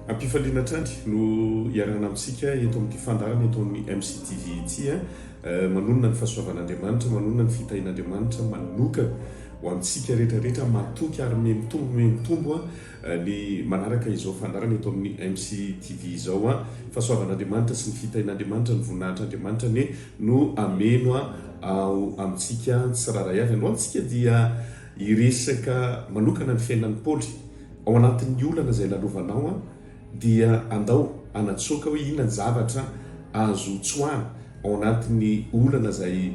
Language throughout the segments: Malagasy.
Ampifaliana hatrany no iarahana amintsika eto amin'ity fandaharana eto amin'ny MCTV ity. Eh. Eh, manonona ny fahasoavan'Andriamanitra, manonona ny fitahin'Andriamanitra manokana ho amintsika rehetra rehetra matoky ary memitombo memitombo Le manaraka izao fandaharana eto amin'ny MC TV izao an! Fahasoavan'Andriamanitra sy ny fitahian'Andriamanitra, ny voninahitr'Andriamanitra anie no hameno ao amintsika tsirairay avy. Androany tsika dia hiresaka manokana ny fiainan'i Paoly. Ao anatin'ny olana izay lalovanao an! dia andao hanatsoaka hoe inona ny zavatra azo tsoahana ao anatin'ny olana izay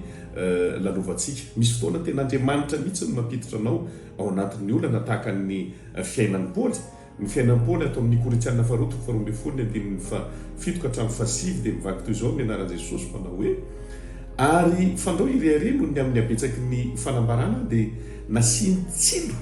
lalovantsika. Misy fotoana tena Andriamanitra mihitsy no mampiditra anao Ao anatin'ny olana tahaka ny fiainan'i Paoly, ny fiainan'i Paoly ato amin'ny Korintiana Faharoa toko faharoa ambin'ny folo ny andininy fahafito ka hatramin'ny fahasivy dia mivadika toy izao ny anaran'i Jesosy manao hoe, Ary fandrao ireharehany noho ny amin'ny habetsaky ny fanambarana aho dia nasiany tsilo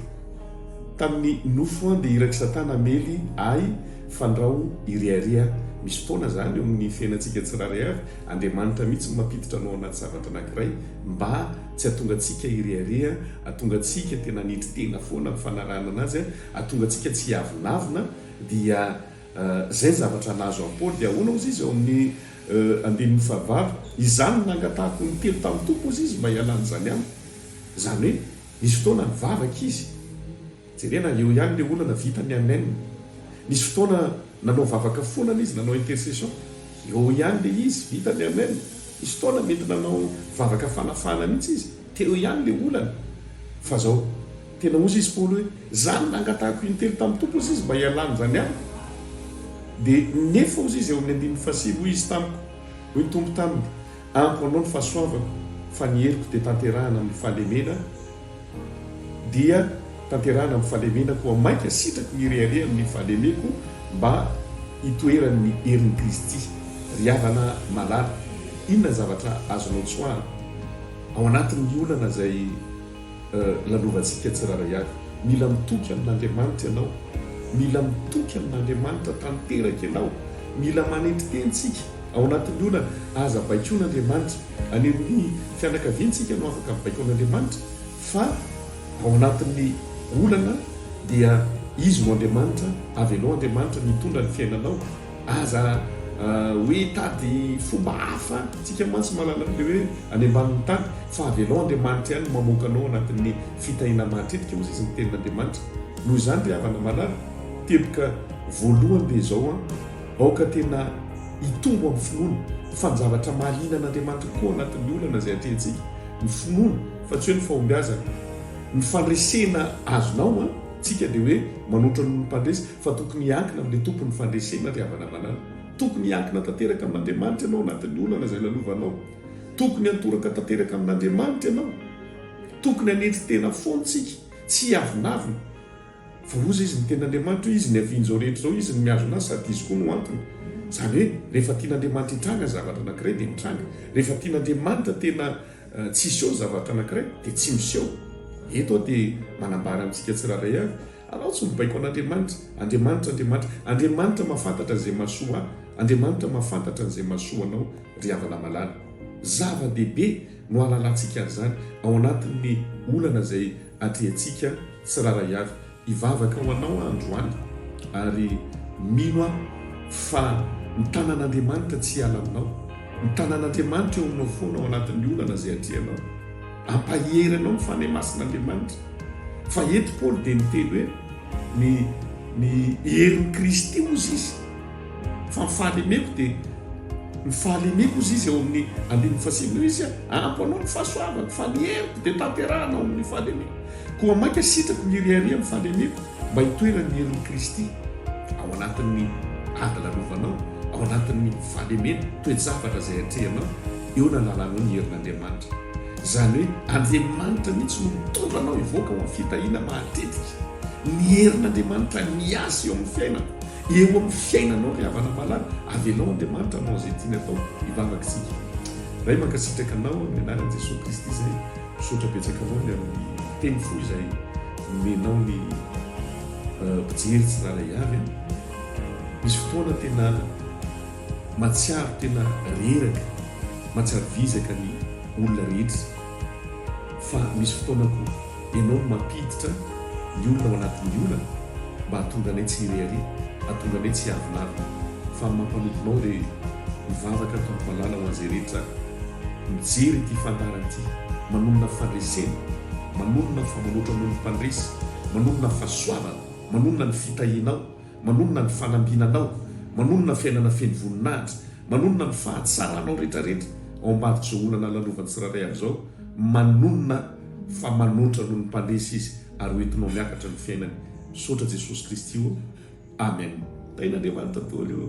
tamin'ny nofo aho dia irak'i Satana hamely ahy fandrao irehareha misy foana izany eo amin'ny fiainantsika tsirairay avy Andriamanitra mihitsy no mampiditra anao anaty zavatra anankiray mba Tsy atongantsika hirehareha, atongantsika tena hanetry tena foana ny fanarahana anazy, atongantsika tsy hiavonavona, dia izay ny zavatra nahazo an'i Paoly. Dia ahoana hozy izy ao amin'ny andininy fahavalo, Izany no nangatahako ny telo tamin'ny Tompo hozy izy mba hialany izany amiko. Izany hoe, nisy fotoana nivavaka izy. Jerena eo ihany le olana vitan'i Amen. Nisy fotoana nanao vavaka foana le izy nanao intercession. Eo ihany le izy vitan'i Amen. Nisy fotoana mety nanao vavaka fanafahana mihitsy izy. Teo ihany le olana. Fa zao. Tena ozy izy Paoly hoe za no nangatahako intelo tamin'ny Tompo ozy izy mba hialany zany amiko. Dia nefa ozy izy eo amin'ny andininy fahasivy hoy izy tamiko. Hoy ny Tompo taminy. Amiko anao ny fahasoavako fa ny heriko dia tanterahina amin'ny fahalemena dia tanterahina amin'ny fahalemena koa mainka sitrako hirehareha amin'ny fahalemeko mba hitoeran'ny herin'i Kristy. Ry havana malala, inona ny zavatra azonao tsoahana ao anatin'ny olana izay Lalovantsika tsirairay avy. Mila mitoky amin'Andriamanitra ianao. Mila mitoky amin'Andriamanitra tanteraka ianao. Mila manetry tena isika ao anatin'ny olana. Aza baikoin'Andriamanitra. Any amin'ny fianakaviantsika no afaka mibaiko an'Andriamanitra, fa ao anatin'ny olana dia Izy no Andriamanitra. Avelao Andriamanitra mitondra ny fiainanao. Aza hoe hitady fomba hafa tsika mantsy manana an'ilay hoe any ambanin'ny tany fa avelao Andriamanitra ihany mamoaka anao anatin'ny fitahiana mahatretika hozy izy ny tenin'Andriamanitra. Noho izany ry havana malala, teboka voalohany dia izao an, aoka tena hitombo amin'ny finoana fa ny zavatra mahaliana an'Andriamanitra kokoa anatin'ny olana izay atrehintsika, ny finoana fa tsy hoe ny fahombiazana. Ny fandresena azonao an, tsika dia hoe manoatra noho ny mpandresy. fa tokony hiankina amin'ilay Tompon'ny fandresena ry havana malala. Tokony hiankina tanteraka amin'Andriamanitra ianao anatin'ny olana izay lalovanao. Tokony hantoraka tanteraka amin'Andriamanitra ianao. Tokony hanetry tena foana isika, tsy hiavonavona. Fa oza izy ny tenin'Andriamanitra hoe izy ny havian'izao rehetra izao, izy no mihazona azy sady izy koa no antony. Izany hoe rehefa tian'Andriamanitra hitranga ny zavatra anankiray dia mitranga. Rehefa tian'Andriamanitra tena tsy hiseho ny zavatra anankiray dia tsy miseho. Eto aho dia manambara amintsika tsirairay avy. Alao tsy mibaiko an'Andriamanitra, Andriamanitra, Andriamanitra, Andriamanitra mahafantatra an'izay mahasoa ahy, Andriamanitra mahafantatra an'izay mahasoa anao ry havana malala. Zava-dehibe no hahalalantsika an'izany ao anatin'ny olana izay atrehintsika tsirairay avy. Hivavaka ho anao aho androany ary mino aho fa ny tanan'Andriamanitra tsy hiala aminao, ny tanan'Andriamanitra eo aminao foana ao anatin'ny olana izay atrehinao. Ampahery anao ny Fanahy Masin'Andriamanitra. Fa eto Paoly dia niteny hoe ny ny herin'i Kristy hozy izy. Fa ny fahalemeko dia ny fahalemeko hozy izy ao amin'ny andininy fahasivy noho izy ampy anao ny fahasoavako fa ny heriko dia tanterahana ao amin'ny fahalemeko. Koa mainka sitrako miriaria amin'ny fahalemeko mba hitoeran'ny herin'i Kristy ao anatin'ny ady lalovanao, ao anatin'ny fahalemena, toe-javatra izay atrehinao. eo ny anarano ny herin'Andriamanitra. Izany hoe Andriamanitra mihitsy no mitondra anao hivoaka ao amin'ny fitahiana mahatetika. Ny herin'Andriamanitra miasa eo amin'ny fiainako, eo amin'ny fiainanao ry havana malala, avelao Andriamanitra hanao izay tiany atao. Hivavaka isika. Ray mankasitraka anao amin'ny anaran'i Jesoa Kristy izay misaotra betsaka anao ny amin'ny teny fo izay nomenao ny mpijery tsirara avy. Misy fotoana tena. Matsiaro tena reraka, matsiaro vizaka ny olona rehetra fa misy fotoana koa ianao no mampiditra ny olona ao anatin'ny olana mba hahatonga anay tsy hirehareha, hahatonga anay tsy hiavilavina fa amin'ny maha mpanomponao dia mivavaka Tompo Malala ho an'izay rehetra mijery ity fandahara ity, manonona fandresena, manonona fa manoatra noho ny mpandresy, manonona fahasoavana, manonona ny fitahianao. Manonona ny fanambinanao, manonona fiainana feno voninahitra, manonona ny fahatsaranao rehetra rehetra ao ambadik'izao olana lalaovan'ny tsirairay avizao, manonona fa manoatra noho ny mpandresy izy ary ho entinao miakatra ny fiainany, misaotra Jesosy Kristy ô, Amen. Tahin' Andriamanitra dôly ô.